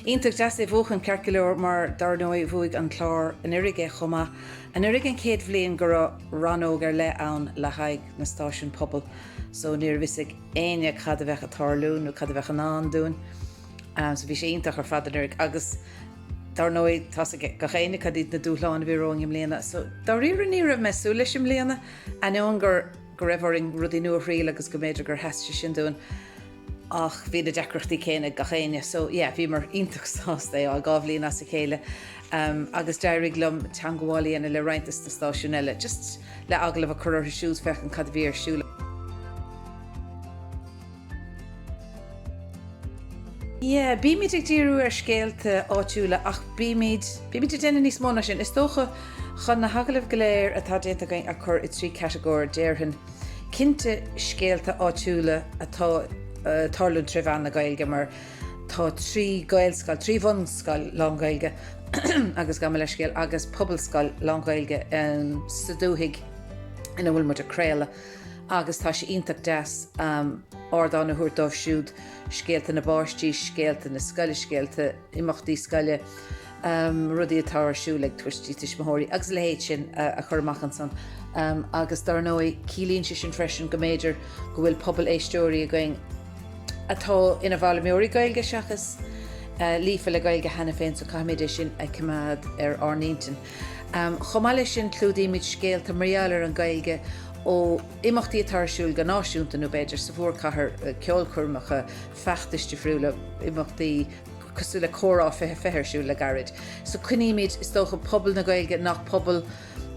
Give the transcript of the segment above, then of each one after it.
Iontach deas é a bhuachan, ceart go leor, mar dár ndóigh bhuaigh an clár anuiridh é chomh maith. Anuiridh an chéad bhliain go raibh rannóg ar leith ann le h-aghaidh na stáisiúin pobail, so níorbh fhios ag éinne cad a bheadh ag tarlú nó cad a bheadh i ndán dúinn. So bhí sé iontach ar fad anuiridh agus dar ndóigh tá's ag gach éinne cad iad na dúshláin a bhí romhainn i mbliana. So dáiríre ní raibh mé ag súil leis i mbliana ainneoin go raibh orainn rudaí nua a thriail agus go mb'fhéidir gur sheas sé sin dúinn ach bhí na deacrachtaí céanna ag gach éinne. So yeah, bhíomar iontach sásta é á dhá bhliain as a chéile um, agus d'éirigh liom teagmháil a dhéanamh le roinnt de na stáisiún eile just le agallamh a chur orthu siúd féachann cad a bhí ar siúl. Yeah, bímid ag díriú ar scéalta áitiúla ach bímid, bímid ag déanamh níos mó ná sin. Is dócha, chun na hagallaimh go léir atá déanta againn a chur i dtrí catagóir, déarfainn, cinnte scéalta áitiúla atá ag tarlú tré mheán na Gaeilge mar tá trí Gaelscoil, trí bhunscoil lán-Ghaeilge agus gabh mo leithscéal agus pobalscoil lán-Ghaeilge sa dúthaigh ina bhfuil muid ag craoladh. agus tá sé iontach deas ardán a thabhairt dóibh siúd scéalta na bpáistí, scéalta na scoile, scéalta imeachtaí scoile, rudaí atá ar siúl ag tuistí, tuismitheoirí agus a leithéid sin a chur amach ansan. Agus dár ndóigh, ciallaíonn sé sin freisin go mb'fhéidir go bhfuil pobal éisteoirí againn atá ina bhfoghlaimeoirí Gaeilge seachas líofa le Gaeilge cheana féin so caithfimid é sin a choimeád ar ár n-intinn. Chomh maith leis sin clúdaímid scéalta mar gheall ar an Ghaeilge ó imeachtaí atá ar siúl go náisiúnta nó b'fhéidir sa mhórchathair, ceolchoirmeacha, feachtais difriúla, imeachtaí cosúil le Comhrá 20 atá ar siúl le gairid. So coinnímid, is dócha, pobal na Gaeilge nach pobal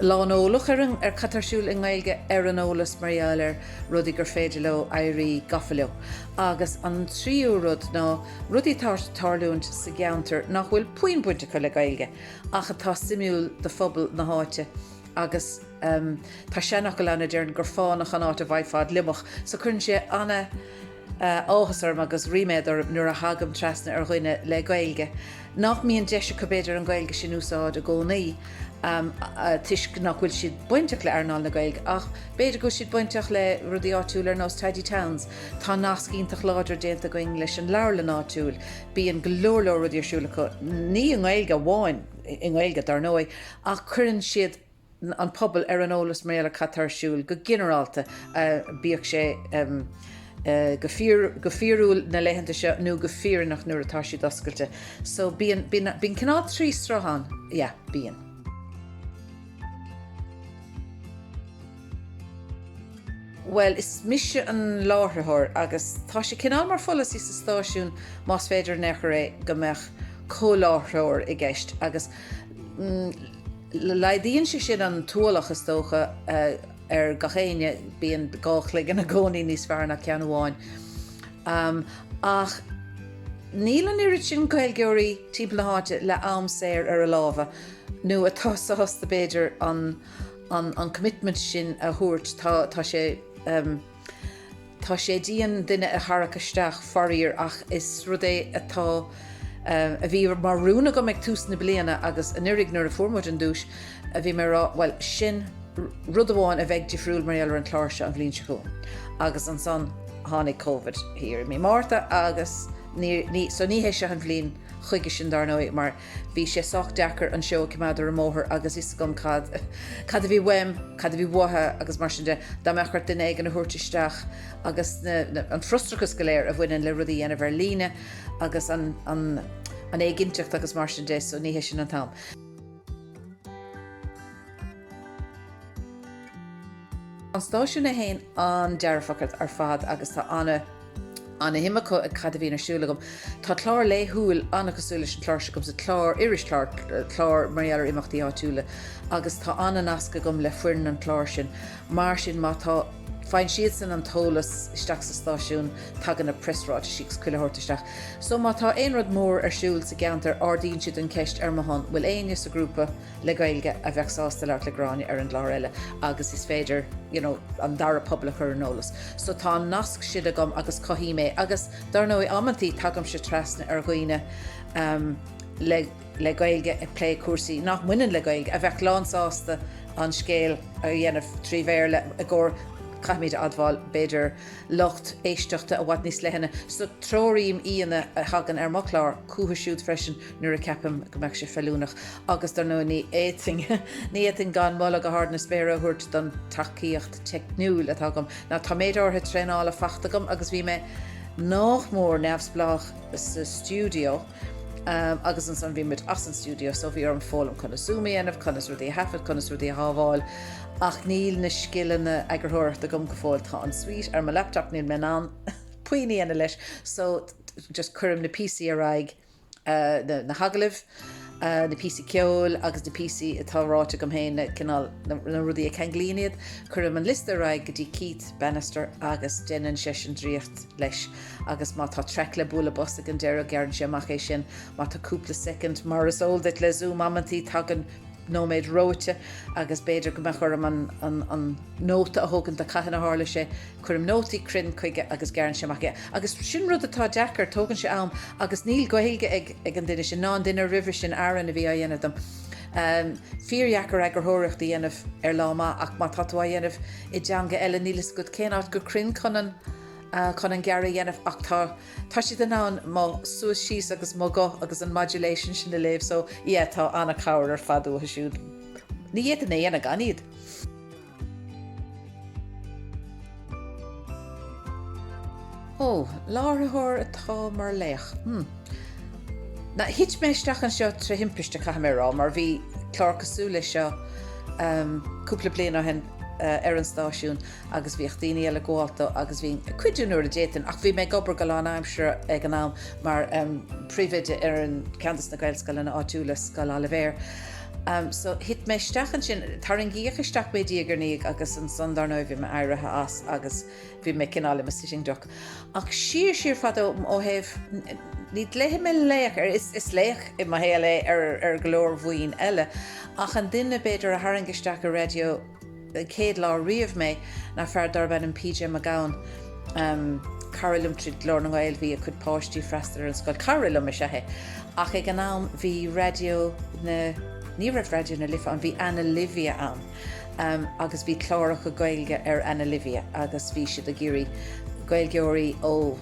lán eolach ar an, ar cad tá ar siúl i nGaeilge ar an eolas mar gheall ar rudaí gur féidir leo éirí gafa leo. Agus an tríú rud ná rudaí atá ag tarlúint sa gceantar nach bhfuil puinn baint acu le Gaeilge ach atá suimiúil do phobal na háite agus tá seanfhocal ann a deireann gur fánach an áit a bhfaighfeá gliomach so cuireann sé an-áthas orm agus ríméad orm nuair a thagaim trasna ar dhuine le Gaeilge nach mbíonn deis acu b'fhéidir an Ghaeilge sin a úsáid i gcónaí toisc nach bhfuil siad bainteach le earnáil na Gaeilge ach b'fhéidir go bhfuil siad bainteach le rudaí áitiúla ar nós Tidy Towns. Tá nasc iontach láidir déanta againn leis an leabharlann áitiúil. Bíonn go leor leor rudaí ar siúl acu, ní i nGaeilge amháin, i nGaeilge dar ndóigh, ach cuireann siad an pobal ar an eolas mar gheall ar cad tá ar siúl go ginearálta, bíodh sé go fíorúil na laethanta seo nó go fírinneach nuair atá siad oscailte. So bíonn, bíonn cineál trí sruth ann, yeah, bíonn. Bhuel, is mise an láithreoir agus tá sé cineál mar pholasaí sa stáisiún, más féidir in aon chor é, go mbeadh comhláithreoir i gceist agus laghdaíonn sé sin an t-ualach, is dócha, ar gach éinne, bíonn dhá chloigeann i gcónaí níos fearr ná ceann amháin. Ach níl an oiread sin Gaeilgeoirí timpeall na háite le am saor ar a lámha nó atá sásta, b'fhéidir, an. an commitment sin a thabhairt. Tá, tá sé, tá sé dian duine a tharrac isteach faraor ach is rud é atá, a bhí mar rún agam ag tús na bliana agus anuiridh nuair a fuair muid an duais a bhí mé a rá bhuel sin rud amháin a bheidh difriúil mar gheall ar an gclár seo an bhliain seo chugainn agus ansan tháinig Covid thiar i mí Márta agus ní, ní, so ní hé seo an bhliain chuige sin dar ndóigh mar Bhí sé sách deacair an seó a cimeád ar an mbóthar agus a fhios agam cad, cad a bhí uaim, cad a bhí uatha agus mar sin de. Dá mbeadh ort duine éigin a thabhairt isteach agus na, na, an frustrachas go léir a bhaineann le rud a dhéanamh ar líne agus an, an, an éiginnteacht agus mar sin de so ní hé sin an t-am. An stáisiún a haon an-dearfach ar fad agus tá ana-shim acu i cad a bhíonn ar siúl agam. Tá clár laethúil an-chosúil leis an chlár seo agamsa, clár, irischlár, clár mar gheall ar imeachtaí áitiúla agus tá ana-nasc agam le foireann an chláir sin. Mar sin má tá, faigheann siadsan an t-eolas isteach sa stáisiún, tagann na preasráitisí agus chuile shórt isteach. So má tá aon rud mór ar siúl sa gceantar ardaíonn siad an cheist ar mo shon, bhfuil éinne sa ghrúpa, le Gaeilge a bheadh sásta labhairt le Gráinne ar an gclár eile agus is féidir you know an dara pobal a chur ar an eolas. So tá an nasc sin agam agus cothaím é agus dar ndóigh amantaí tagaimse trasna ar dhaoine ehm le le Gaeilge ag plé cúrsaí nach mbaineann le Gaeilge a bheadh lán sásta an scéal a dhéanamh trí Bhéarla i gcomhair caithfimíd a admháil b'fhéidir lucht éisteachta i bhfad níos leithne so treoraím aíonna a thagann ar mo chlár chucu siúd freisin nuair a cheapaim go mbeadh sé feiliúnach agus dar ndóigh ní fhéadfainn ní fhéadfainn gan moladh go hard na spéire a thabhairt don tacaíocht teicniúil atá agam. Now tá méid áirithe traenála faighte agam agus bhí mé nách mór neamhspleách sa stiúideo agus ansan bhí muid as an stiúideo so bhí orm foghlaim conas zoom a dhéanamh, conas rudaí a thaifead, conas rudaí a shábháil ach níl na scileanna eagarthóireachta agam go fóill. Tá an suite ar mo laptop níl mé in ann puínn a dhéanamh leis so just cuirim na píosaí ar aghaidh na hagallaimh, na píosaí ceoil agus na píosaí atá ráite agam féin, cineál na rudaí a cheanglaíonn iad. Cuirim an liosta ar aghaidh go dtí Keith Bannister agus déanann seisean draíocht leis agus má tá traic le bualadh bos ag an deireadh gearrann sé amach é sin. Má tá cúpla second, mar is eol duit le Zoom amantaí, tagann nóiméad reoite agus b'fhéidir go mbeadh orm an nóta a thógaint de cathain a tharla sé. Cuirim nótaí cruinn chuige agus gearrann sé amach é. Agus sin rud atá deacair, tógann sé am agus níl Gaeilge ag an duine sin, ná an duine roimhe sin, Aaron a bhí á dhéanamh dom. Fíordheacair eagarthóireacht a dhéanamh ar lá maith ach má tá tú á dhéanamh i dteanga eile níl fhios agat cén áit go cruinn chun an chun an gearradh a dhéanamh ach tá tá siad in ann mo suas síos agus mo ghuth agus an modulation sin a léamh so yeah tá an-chabhair ar fad uathu siúd. Ní fhéadfainn é a dhéanamh gan iad. Ó, láithreoir atá mar laoch. Hmm. Now, thit mé isteach anseo trí thimpiste caithfidh mé a rá mar bhí clár cosúil leis seo cúpla bliain ó shin ar an stáisiún agus bhíodh daoine eile ag gabháilt dó agus bhínn ag cuidiú nuair a d'fhéadfainn ach bhí mé ag obair go lánaimseartha ag an am mar phríomhoide ar an, ceann de na Gaelscoileanna áitiúla, Scoil Oilibhéir. So, thit mé isteach ansin, tarraingíodh isteach mé diaidh ar ndiaidh agus ansan dár ndóigh bhí mé éirithe as agus bhí mé cineál i mo sitting duck. Ach siar, siar fadó ó thaobh, ní glaofaidh mé laoch air, is laoch i mo shaol é ar go leor bhoinn eile, ach an duine b'fhéidir a tharraing isteach i Raidió, chéad lá riamh mé ná fear darb ainm PJ Mac Gabhann, cara liom tríd Glór na nGael, bhí a chuid páistí ag freastal ar an scoil, cara liom is ea é, ach ag an am bhí Raidió na, ní raibh Raidió na Life ann, bhí Anna Livia ann agus bhí cláracha Gaeilge ar Anna Livia agus bhí siad ag iarraidh Gaeilgeoirí ó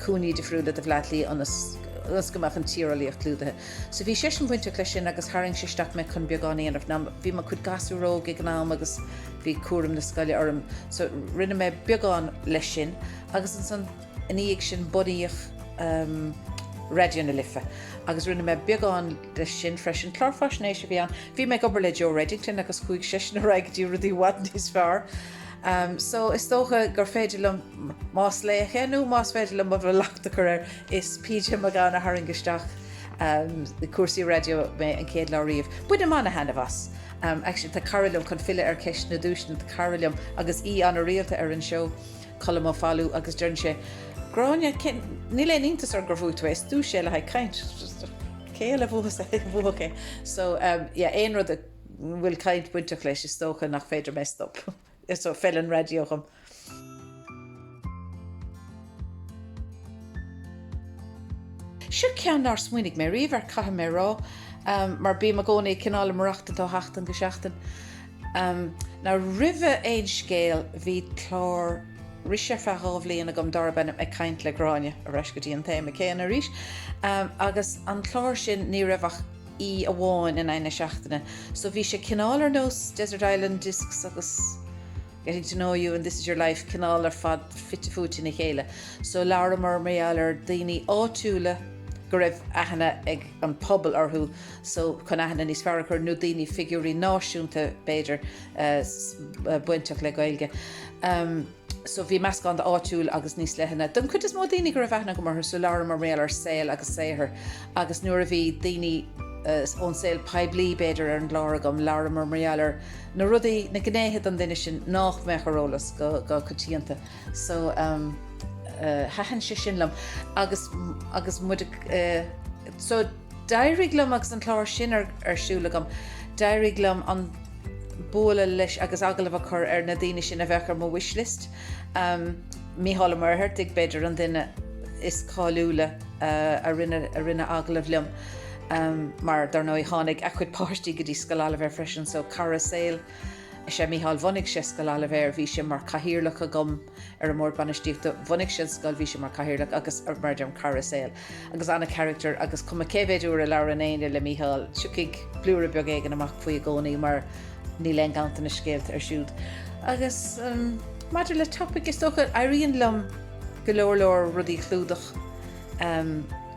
cúinní difriúla de Bhleá Cliath ionas go mbeadh an tíreolaíocht clúdaithe. So bhí seisean bainteach leis sin agus tharraing sé isteach mé chun beagán a dhéanamh. Now bhí mo chuid gasúróg ag an am agus bhí cúram na scoile orm. So rinne mé beagán leis sin agus ansan i ndiaidh sin bunaíodh ehm Raidió na Life agus rinne mé beagán leis sin freisin. Clár faisnéise a bhí ann. Bhí mé ag obair le Joe Reddington agus chuaigh seisean ar aghaidh go dtí rudaí i bhfad níos fearr. Ehm so is dócha gur féidir liom más laoch nó más féidir liom an locht a chur air Is PJ Mac Gabhann a tharraing isteach i cúrsaí raidió mé an chéad lá riamh. Bainim an-thaitneamh as. Actually, tá cara liom, chun filleadh ar cheist na nduaiseanna, tá cara liom agus aoi an-rialta ar an seó, Colm Ó Foghlú, agus deireann sé, Gráinne, níl aon iontas orm gur bhuaigh tú é, is duais é le haghaidh caint. Cé eile a bhuafadh é? So, yeah, aon rud a bhfuil caint bainteach leis, is dócha nach féidir mé stop. So feileann raidió dhom. Seo ceann nár smaoinigh mé riamh air caithfidh mé a rá, mar bím i gcónaí ag cineál ag maireachtáil ó sheachtain go seachtain. Now roimh Aon Scéal bhí clár irise ar feadh dhá bhliain agam dárb ainm Ag Caint le Gráinne, ar ais go dtí an téama céanna arís, agus an clár sin ní raibh ach, aoi amháin in aghaidh na seachtaine. So bhí sé cineál ar nós Desert Island Discs agus Getting to Know You and This is Your Life, cineál ar fad fite fuaite ina chéile. So labhramar mar gheall ar daoine áitiúla go raibh aithne ag an pobal orthu so chun aithne níos fearr a chur nó daoine figiúirí náisiúnta b'fhéidir bainteach le Gaeilge. Um, so bhí meascán de áitiúil agus níos leithne. Don chuid is mó daoine go raibh aithne agam orthu so labhramar mar gheall ar saol agus saothar agus nuair a bhí daoine eh, ón saol poiblí b'fhéidir ar an gclár agam labhramar mar gheall ar na rudaí na gnéithe don duine sin nách mbeadh ar eolas go go coitianta so um, uh, eh, thaitin sé sin liom agus agus mu uh, eh, so D'éirigh liom agus an clár sin ar siúl agam, d'éirigh liom an bualadh leis agus agallamh a chur ar na daoine sin a bheadh ar mo wish list. Mícheál Ó Muircheartaigh b'fhéidir an duine is cáiliúla a rinne agallamh liom mar dar ndóigh tháinig a chuid páistí go dtí Scoil Oilibhéir freisin so cara saoil is ea Mícheál. Bhunaigh sé Scoil Oilibhéir, bhí sé mar chathaoirleach agam, ar an mBord Bainistíochta. Bhunaigh sé an scoil, bhí sé mar cathaoirleach agus mar a deirim cara saoil agus an-charactar agus cuma cé mhéid uair a labhrann éinne le Mícheál tiocfaidh blúire beag éigin amach faoi i gcónaí mar níl aon ganntanas scéalta air siúd. Agus maidir le topaic is dócha éiríonn liom go leor leor rudaí a chlúdach.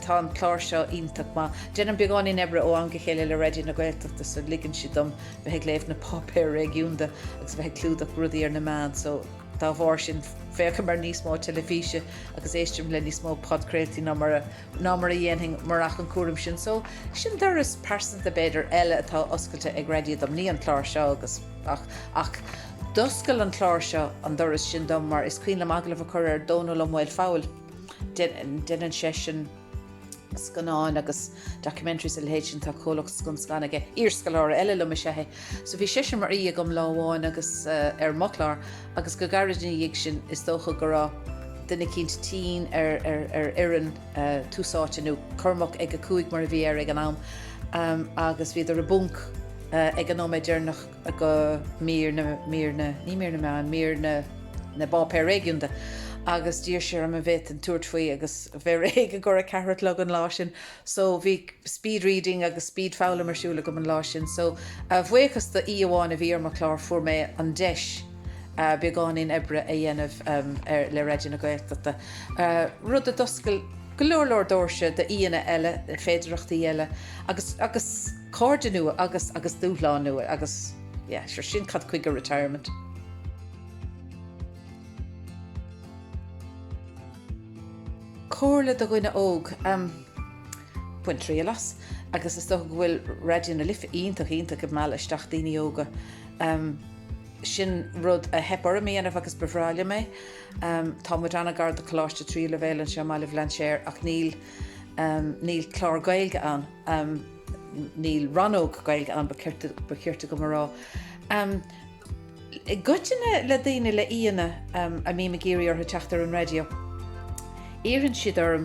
Tá an clár seo iontach maith. Déanaim beagáinín oibre ó am go chéile le Raidió na Gaeltachta so ligeann siad dom bheith ag léamh na páipéir réigiúnda agus bheith ag clúdach rudaí ar na meáin so Dá bharr sin, féachaim ar níos mó teilifíse agus éistim le níos mó podchraoltaí ná mar a ná mar a dhéanfainn murach an cúram sin. So, sin doras pearsanta, b'fhéidir, eile atá oscailte ag Raidió dom. Ní an clár seo agus ach, ach d'oscail an clár seo an doras sin dom mar is cuimhin liom agallamh a chur ar Dhónall Ó Maolfabhail. Déanann seisean. scannáin agus documentaries a leithéid sin tá comhlacht Scun Scan aige iarscoláire eile liom is ea é so bhí seisean mar aoi agam lá amháin agus ar mo chlár agus go gairid ina dhiaidh sin is dócha go raibh duine eicínt tinn ar ar fhoireann Tús Áite nó Cormac ag a cúig mar a bhí air ag an am agus bhíodar i bponc ag an nóiméad deireanach go Mír na, Mír na, ní Mír na Meáin, Mír na, na bPáipéar Réigiúnda agus d'iarr sé orm an bhféadfainn tabhairt faoi agus bheith réidh i gcomhair a ceathair a chlog an lá sin so bhí speed reading agus speed foghlaim ar siúl agam an lá sin so a bhuíochas do aoi amháin a bhí ar mo chlár fuair mé an deis beagáinín oibre a dhéanamh ar le Raidió na Gaeltachta rud a d'oscail go leor leor doirse d'aíonna eile féidireachtaí eile agus agus cairde nua agus agus dúshlán nua agus yeah sure sin cad chuige retirement. Comhairle do dhuine óg, em bain triail as agus is dócha go bhfuil Raidió na Life iontach iontach ag mealladh isteach daoine óga em sin rud a theip orm a dhéanamh agus ba bhreá liom é em tá muid an-ghar do Choláiste Tríú Leibhéal anseo i mBaile Bhlainséir ach níl Níl clár Gaeilge ann. Níl rannóg Gaeilge ann, ba chirte dhom a rá. I gcoitinne le daoine, le aíonna a mbím ag iarraidh orthu teacht ar an raidió, iarrann siad orm,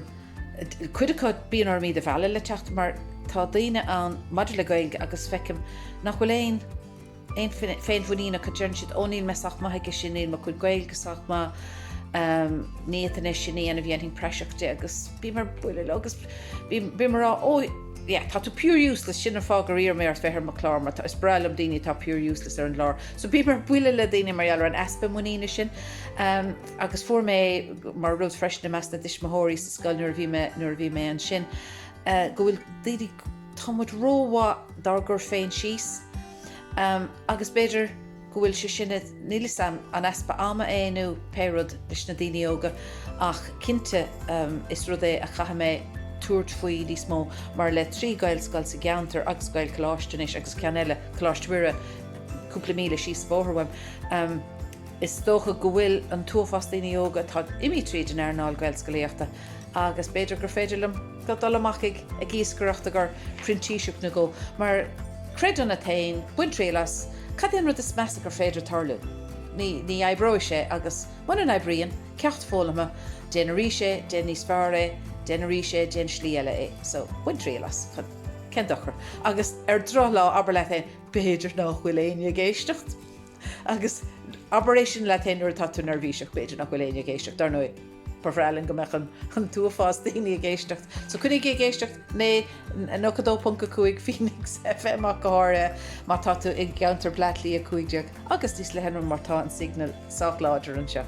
cuid acu bíonn orm iad a mhealladh le teacht mar tá daoine ann, maidir le Gaeilge agus feicim nach bhfuil aon, aon féinmhuinín acu. Deireann siad Ó níl mé sách maith aige sin, níl mo chuid Gaeilge sách maith, ní fhéadfainn é sin a dhéanamh, dhéanfainn praiseach de agus bím ar buile leo agus bím a' rá Ó yeah tá tú pure useless, sin an fáth gur iarr mé ort bheith ar mo chlár mar is breá liom daoine atá pure useless ar an gclár. So bím ar buile le daoine mar gheall ar an easpa muiníne sin agus fuair mé an rud freisin i measc na dtuismitheoirí sa scoil nuair a bhí mé, nuair a bhí mé ansin go bhfuil daoine, Tá muid ró-mhaith dár gcur féin síos agus b'fhéidir go bhfuil sé sin, níl 'fhios a'm an easpa ama é nó pé rud leis na daoine óga ach cinnte is rud é a chaithfidh mé tabhairt faoi níos mó mar le trí Gaelscoil sa gceantar agus Gaelcholáiste anois agus ceann eile, Coláiste Mhuire, cúpla míle síos bóthar uaim, is dócha go bhfuil an t-uafás daoine óga atá ag imí tríd an earnáil Ghaelscolaíochta. Agus b'fhéidir gur féidir liom dul amach ag ag iascaireacht agur printíseacht nó go, mar, creid ionat fhéin, bain triail as, cad é an rud is measa gur féidir tarlú? Ní, ní oibreoidh sé agus mura n-oibríonn, ceacht foghlamtha, déan arís é, déan níos fearr é, déan arís é, déan slí eile é. So, bain triail as, cén, cén dochar? Agus ar drochlá abair leat fhéin, b'fhéidir nách bhfuil éinne ag éisteacht? Agus abair é sin leat fhéin nuair atá tú neirbhíseach, b'fhéidir nach bhfuil éinne ag éisteacht, dar ndóigh. Ba bhreá linn go mbeadh an t-uafás daoine ag éisteacht, so cuirigí ag éisteacht le 92.5 Phoenix FM ach go háirithe má tá tú i gceantar Bhleá Cliath 15 agus níos le hé nam mar tá an signal sách láidir anseo.